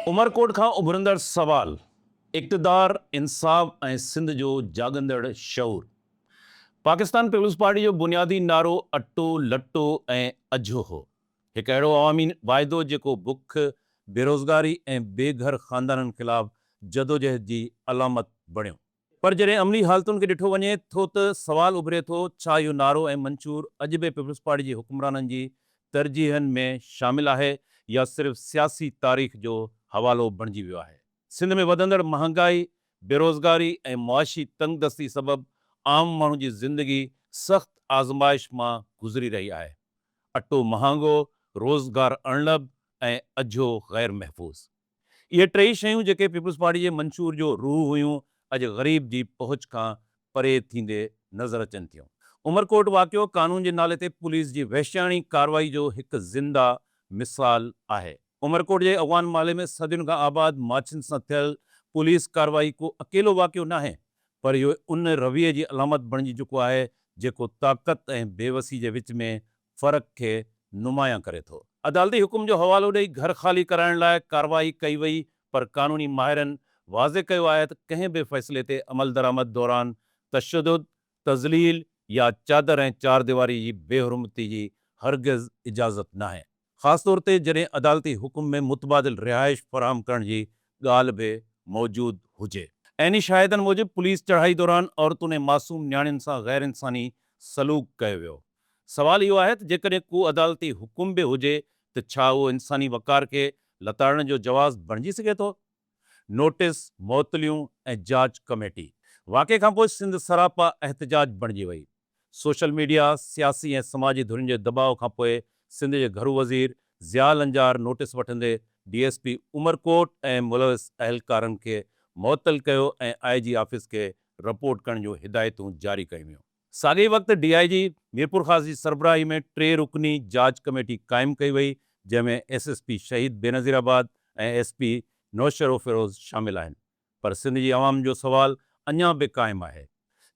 عمرڪوٽ کان اڀرندڙ سوال، اقتدار، انصاف ۽ سنڌ جو جاڳندڙ شعور. پاڪستان پيپلز پارٽي جو بنيادي نعرو اٽو، لٽو ۽ اجهو هو. هڪ اهڙو عوامي واعدو جيڪو بک، بيروزگاري ۽ بي گهر خاندانن خلاف جدوجهد جي علامت بڻيو. پر جڏهن عملي حالتن کي ڏٺو وڃي ٿو ته سوال اڀري ٿو ڇا اهو نعرو ۽ منشور اڄ به پيپلزپارٽي جي حڪمرانن جي ترجيحن ۾ شامل آهي يا صرف سياسي تاريخ جو حوالو بڻجي ويو آهي. سنڌ ۾ وڌندڙ مهانگائي، بيروزگاري ۽ معاشي تنگدستي سبب عام ماڻهو جي زندگي سخت آزمائش مان گذري رهي آهي. اٽو مهانگو، روزگار اڻلڀ ۽ اجهو غيرمحفوظ. اهي ٽيئي شيون جيڪي پيپلز پارٽي جي منشور جو روح هيون اڄ غريب جي پهچ کان پري ٿيندي نظر اچن ٿيون. عمرڪوٽ واقعو قانون جي نالي تي پوليس جي وحشياڻي ڪارروائي جو هڪ زنده مثال آهي. عمرڪوٽ جي اغوان محلي ۾ صدين کان آباد ماڇين سان ٿيل پوليس ڪارروائي ڪو اڪيلو واقعو ناهي پر اهو ان رويي جي علامت بڻجي چڪو آهي جيڪو طاقت ۽ بيوسي جي وچ ۾ فرق کي نمايان ڪري ٿو. عدالتي حڪم جو حوالو ڏئي گهر خالي ڪرائڻ لاء ڪارروائي ڪئي وئي پر قانوني ماهرن واضح ڪيو آهي ته ڪنهن به فيصلي تي عملدرآمد دوران تشدد، تذليل يا چادر ۽ چارديواري جي بي حرمتي جي هرگز اجازت ناهي خاص طور تي جڏهن عدالتي حڪم ۾ متبادل رهائش فراهم ڪرڻ جي ڳالهه به موجود هجي. عيني شاهدن موجب پوليس چڙهائي دوران عورتون ۽ معصوم نياڻين سان غيرانساني سلوڪ ڪيو ويو. سوال اهو آهي ته جيڪڏهن ڪو عدالتي حڪم به هجي ته ڇا اهو انساني وقار کي لتاڙڻ جو جواز بڻجي سگهي ٿو؟ نوٽيس، معطليون ۽ جاچ ڪميٽي واقعي کان پوء سنڌ سراپا احتجاج بڻجي وئي. سوشل ميڊيا، سياسي ۽ سماجي ڌرين جي دٻاء کان پوء سنڌ جي گهرو وزير ضياء لنجار نوٽيس وٺندي ڊي ايس پي عمرڪوٽ ۽ ملوث اهلڪارن کي معطل ڪيو ۽ آء جي آفيس کي رپورٽ ڪرڻ جون هدايتون جاري ڪيون ويون. ساڳئي وقت ڊي آء جي ميرپورخاص جي سربراهي ۾ ٽي رڪني جاچ ڪميٽي قائم ڪئي وئي جنهن ۾ S S P Shaheed Benazirabad ۽ S P Naushahro Feroze شامل آهن پر سنڌ جي عوام جو سوال اڃا به قائم آهي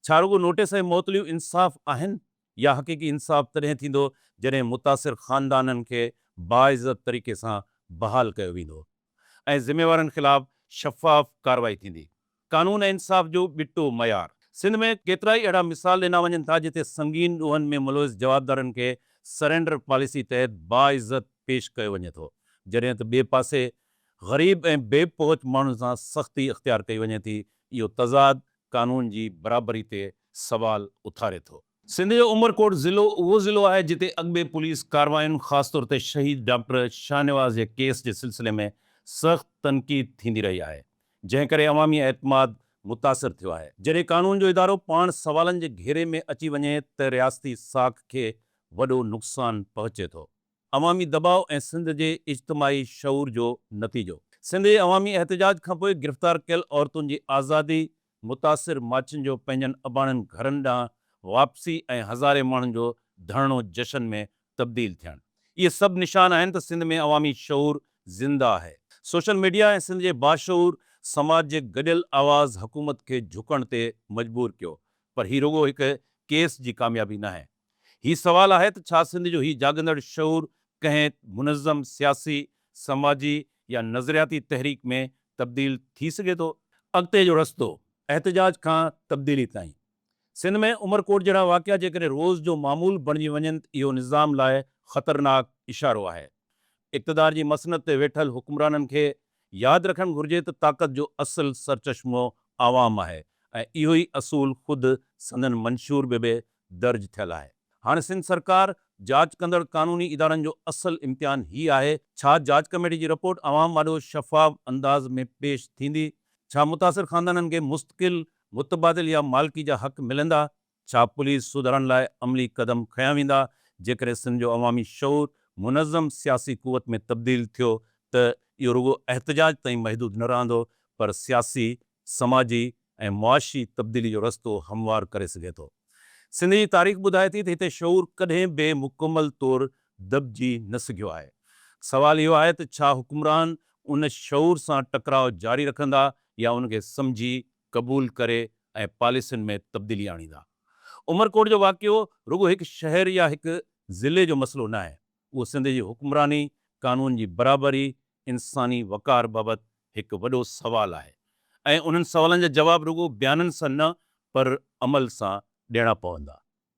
ڇا رڳو نوٽيس ۽ معطليون انصاف آهن يا حقيقي انصاف تڏهن ٿيندو جڏهن متاثر خاندانن کي باعزت طريقي سان بحال ڪيو ويندو. ۽ ذميوارن خلاف شفاف ڪارروائي ٿيندي، قانون ۽ انصاف جو ٻٽو معيار. سنڌ ۾ ڪيترائي اهڙا مثال ڏنا وڃن ٿا جتي سنگين ڏوهن ۾ ملوث جوابدارن کي سرينڊر پاليسي تحت باعزت پيش ڪيو وڃي ٿو جڏهن ته ٻئي پاسي غريب ۽ بي پهچ ماڻهن سان سختي اختيار ڪئي وڃي ٿي، اهو تضاد قانون جي برابري تي سوال اٿاري ٿو. سنڌ جو عمرڪوٽ ضلعو اهو ضلعو آهي جتي اڳڀي پوليس ڪاررواين خاص طور تي شهيد ڊاڪٽر شاهنواز جي ڪيس جي سلسلي ۾ سخت تنقيد ٿيندي رهي آهي جنهن ڪري عوامي اعتماد متاثر ٿيو آهي. جڏهن قانون جو ادارو پاڻ سوالن جي گهيري ۾ اچي وڃي ته رياستي ساک کي وڏو نقصان پهچي ٿو. عوامي دٻاء ۽ سنڌ جي اجتماعي شعور جو نتيجو. سنڌ جي عوامي احتجاج کانپوء گرفتار ڪيل عورتن جي آزادي متاثر ماچنجو پنهنجن اباڻن گهرن ڏانهن واپسي ۽ هزارين ماڻهن جو ڌرڻو جشن ۾ تبديل ٿيڻ اهي سڀ نشان آهن ته سنڌ ۾ عوامي شعور زنده آهي. سوشل ميڊيا ۽ سنڌ جي باشعور سماج جي گڏيل آواز حڪومت کي جهڪڻ تي مجبور ڪيو پر هي رڳو هڪ ڪيس جي ڪاميابي ناهي. هي سوال آهي ته ڇا سنڌ جو هي جاڳندڙ شعور ڪنهن منظم سياسي، سماجي يا نظرياتي تحريڪ ۾ تبديل ٿي سگهي ٿو؟ اڳتي جو رستو، احتجاج کان تبديلي تائين. سنڌ ۾ عمر ڪوٽ جهڙا واقعا جيڪڏهن روز جو معمول بڻجي وڃن ته اهو نظام لاء خطرناڪ اشارو آهي. اقتدار جي مسند تي ويٺل حڪمرانن کي ياد رکڻ گهرجي ته طاقت جو اصل سرچشمو عوام آهي ۽ اهو ئي اصول خود سندن منشور به به درج ٿيل آهي. هاڻ سنڌ سرڪار جاچ ڪندڙ قانوني ادارن جو اصل امتحان هي آهي ڇا جاچ ڪميٽي جي رپورٽ عوام آڏو شفاف انداز ۾ پيش ٿيندي؟ ڇا متاثر خاندانن کي مستقل، متبادل يا مالڪي جا حق ملندا؟ ڇا پوليس سڌارن لاء عملي قدم کنيا ويندا؟ جيڪڏهن سنڌ جو عوامي شعور منظم سياسي قوت ۾ تبديل ٿيو ته اهو رڳو احتجاج تائين محدود نه رهندو پر سياسي سماجي ۽ معاشي تبديلي جو رستو هموار ڪري سگهي ٿو. سنڌ جي تاريخ ٻڌائي ٿي ته هتي شعور ڪڏهن به مڪمل طور دٻجي نه سگهيو آهي. سوال اهو آهي ته ڇا حڪمران ان شعور سان ٽڪراء جاري رکندا يا ان کي سمجهي، قبول ڪري ۽ پاليسين ۾ تبديلي آڻيندا. عمرڪوٽ جو واقعو رڳو هڪ شهر يا هڪ ضلعي جو مسئلو ناهي. اهو سنڌ جي حڪمراني، قانون جي برابري، انساني وقار بابت هڪ وڏو سوال آهي ۽ انهن سوالن جا جواب رڳو بيانن سان نه پر عمل سان ڏيڻا پوندا.